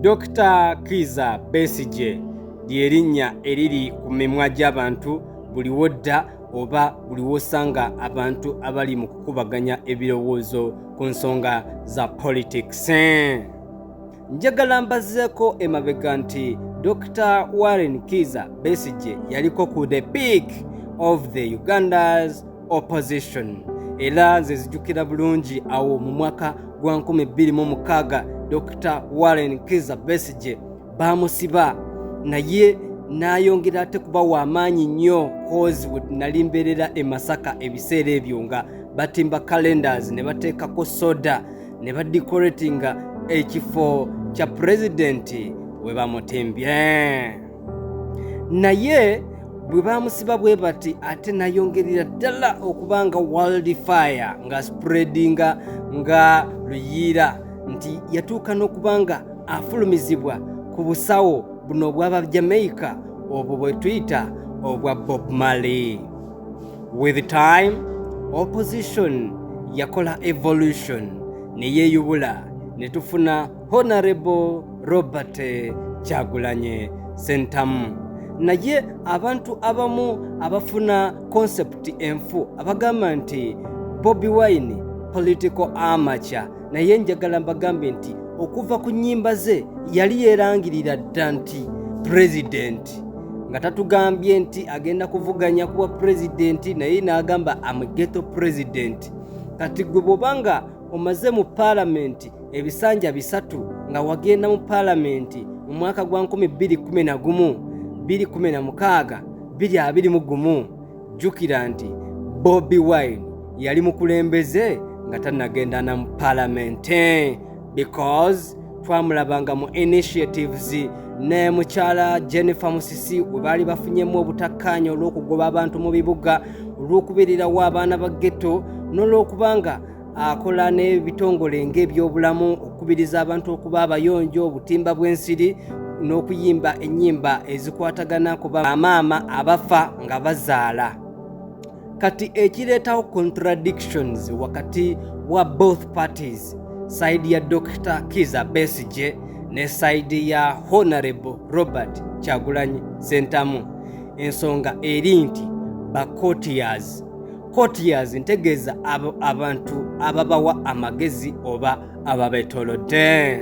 Dokita Kiza Besigye ly'erinnya eriri ku mimwa gy'abantu buli wodda oba buli wosanga abantu abali mu kukubaganya ebirowoozo ku nsonga za politics. Njagala mbazeeko emabega nti Dokita Warren Kiza Besigye yaliko ku the peak of the Uganda's opposition era nze zijukira bulungi awo mu mwaka gwa 26 dr warren kiza besige bamusiba naye nayongera ate kuba wamaanyi nnyo cause nali mbeerera e masaka ebiseera ebyo nga batimba calendars ne bateekako soda ne badecoratinga ekifo kya pulezidenti we bamutimbye naye bwe bamusiba bwe bati ate nayongerera ddala okuba nga world fire nga spreadinga nga luyiira nti yatuuka n'okuba nga afulumizibwa ku busawo buno obwaba jamaica obwo bwe tuyita obwa bob marley with time opposition yakola evolution ne yeeyubula ne tufuna honarebo robert kyagulanye sentamu naye abantu abamu abafuna konsepti enfu abagamba nti bobi wine political amaca naye njagala mbagambe nti okuva ku nnyimba ze yali yeerangirira dda nti pulezidenti nga tatugambye nti agenda kuvuganya kuwa pulezidenti naye n'agamba amugeto pulezidenti kati gwe bw'obanga omaze mu paalamenti ebisanja bisatu nga wagenda mu paalamenti mu mwaka gwa 2011 216 2 mu gumu jjukira nti bobi wine yali mukulembeze nga tanagenda na mu paalamenti because twamulabanga mu initiatives ne mukyala jennifer musisi we baali bafunyemu obutakkaanya olw'okugoba abantu mu bibuga olw'okubeererawo abaana ba getto n'olw'okubanga akola n'ebitongole ng'ebyobulamu okukubiriza abantu okuba abayonjo obutimba bw'ensiri n'okuyimba ennyimba ezikwatagana ku bamaama abafa nga bazaala kati ekireetawo contradictions wakati wa both parties sayidi ya dr kiza besige ne sayidi ya honorable robert kyagulanyi sentamu ensonga eri nti bacotiers courtiers ntegeeza abantu ababawa amagezi oba ababetolodde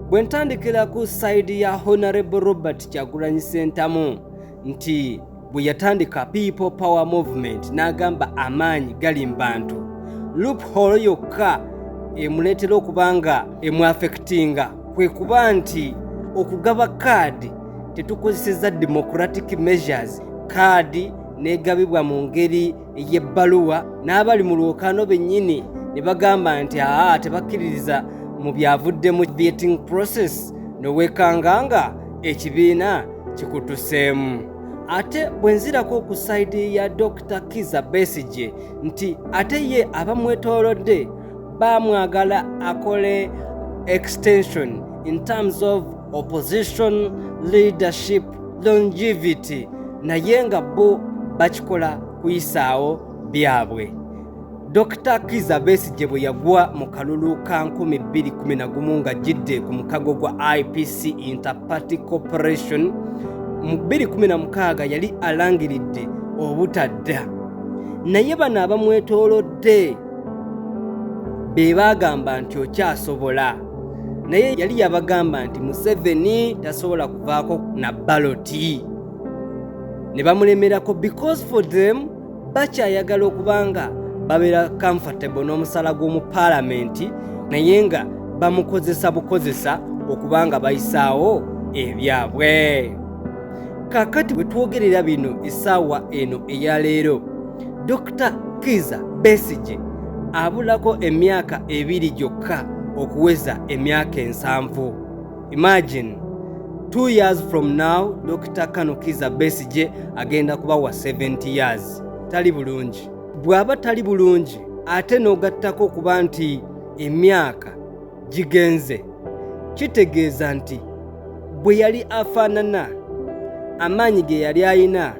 bwe ntandikira ku sayidi ya honorable robert kyagulanyi sentamu nti bwe yatandika people power movement n'agamba amaanyi gali mu bantu loophole yokka emuleetera okuba nga emuafectinga kwe kuba nti okugaba kaadi tetukozeseza democratic measures kaadi n'egabibwa mu ngeri ey'ebbaluwa n'abali mu lwokaano bennyini ne bagamba nti aa tebakkiririza mu byavudde mu vetting process nowekanga nga ekibiina kikutuseemu ate bwe nzirako ku sayidi ya dr kiza besigye nti ate ye abamwetoolodde bamwagala akole extension in terms of opposition leadership longevity naye nga bo bakikola kuyisaawo byabwe dr kiza besigye bwe yagwa mu kalulu ka 211 nga jidde ku mukago gwa ipc interparty corporation mu 216 yali alangiridde obutadda naye bano abamwetoolodde be baagamba nti okyasobola naye yali yabagamba nti museveni tasobola kuvaako na baloti ne bamulemerako because for them bakyayagala okuba nga babeera comfortable n'omusala gw'omu paalamenti naye nga bamukozesa bukozesa okuba nga bayisaawo ebyabwe kakati bwe twogerera bino esaawa eno eya leero Dr. Kiza Besigye abulako emyaka ebiri gyokka okuweza emyaka ensanvu. Imagine two years from now Dr. Kano Kiza Besigye agenda kuba wa 70 years. Tali bulungi. Bw'aba tali bulungi ate n'ogattako okuba nti emyaka gigenze kitegeeza nti bwe yali afaanana amaanyi ge yali alina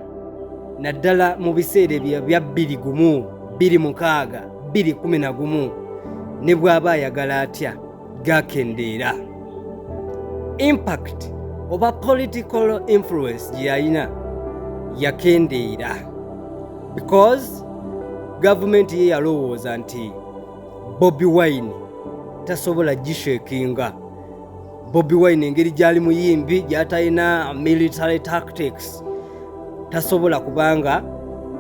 naddala mu biseera ebyo bya bbiri gumu bbiri mukaaga bbiri kumi na gumu ne bw'aba ayagala atya gakendeera impact oba political influence gye yalina yakendeera because gavumenti ye yalowooza nti bobi wine tasobola gishekinga bobi wine engeri gyali muyimbi gyatalina military tactics tasobola kubanga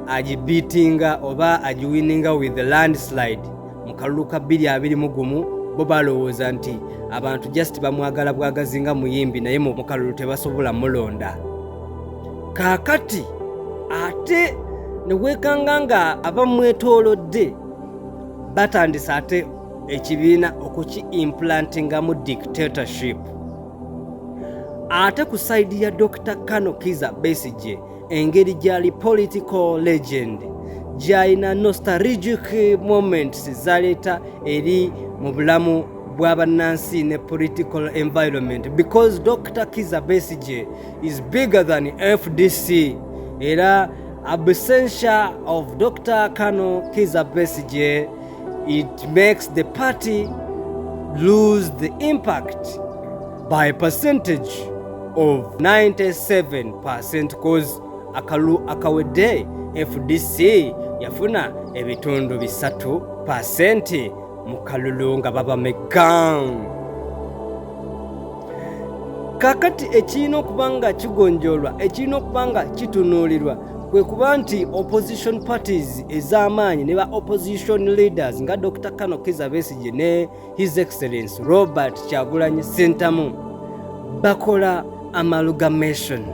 agibitinga oba agiwininga with the landslide mu kalulu ka 221 gumu bo balowooza nti abantu just bamwagala bwagazi nga muyimbi naye mu kalulu tebasobola mulonda kaakati ate ne weekanga nga abamwetoolodde batandise ate ekibiina okuki implantingamu dictatorship ate ku saidi ya dr kano kiza besigye engeri gyali political legend gyalina nostalgic moments zaleeta eri mu bulamu bw'abannansi ne political environment because dr kiza besigye is bigger than fdc era Absentia of Dr. Kano Kiza Besigye, it makes the party lose the impact by percentage of 97% cause akalu akawedde FDC yafuna ebitundu bisatu pasenti mu kalulu nga baba mekka kakati ekirina okuba nga kigonjoolwa ekirina okuba nga kitunuulirwa kwe kuba nti opposition parties ez'amaanyi ne ba opposition leaders nga dr kano kiza besigye ne his excellence robert kyagulanyi sentamu bakola amalgamation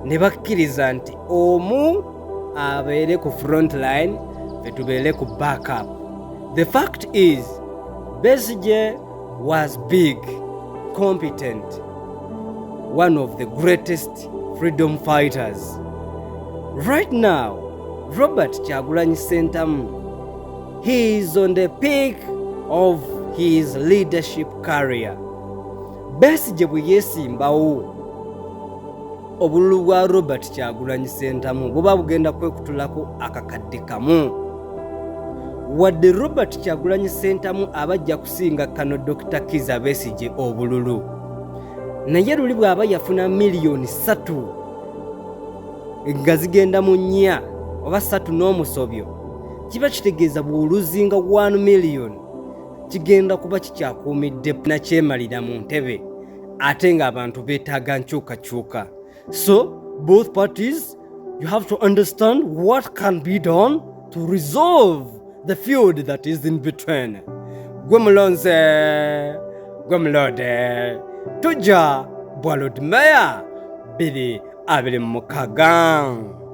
ne bakkiriza nti omu abeere ku front line fetubeere ku backup the fact is besige was big competent one of the greatest freedom fighters right now robert kyagulanyi sentamu he is on the peak of his leadership carrier besige bwe yeesimbawo obululu bwa robert kyagulanyi sentamu buba bugenda kwekutulako akakadde kamu wadde robert kyagulanyi sentamu aba ajja kusinga kano dr kiza besigye obululu naye luli bw'aba yafuna miliyoni satu nga zigenda mu nnya oba satu n'omusobyo kiba kitegeeza bw'oluzinga 1 miliyoni kigenda kuba kikyakuumidde nakyemalira mu ntebe ate nga abantu betaaga nkyukakyuka so both parties you have to understand what can be done to resolve the field that is in between gwe mulonze gwe mulode tujja bwa lord mayor biri abiri mu mukaga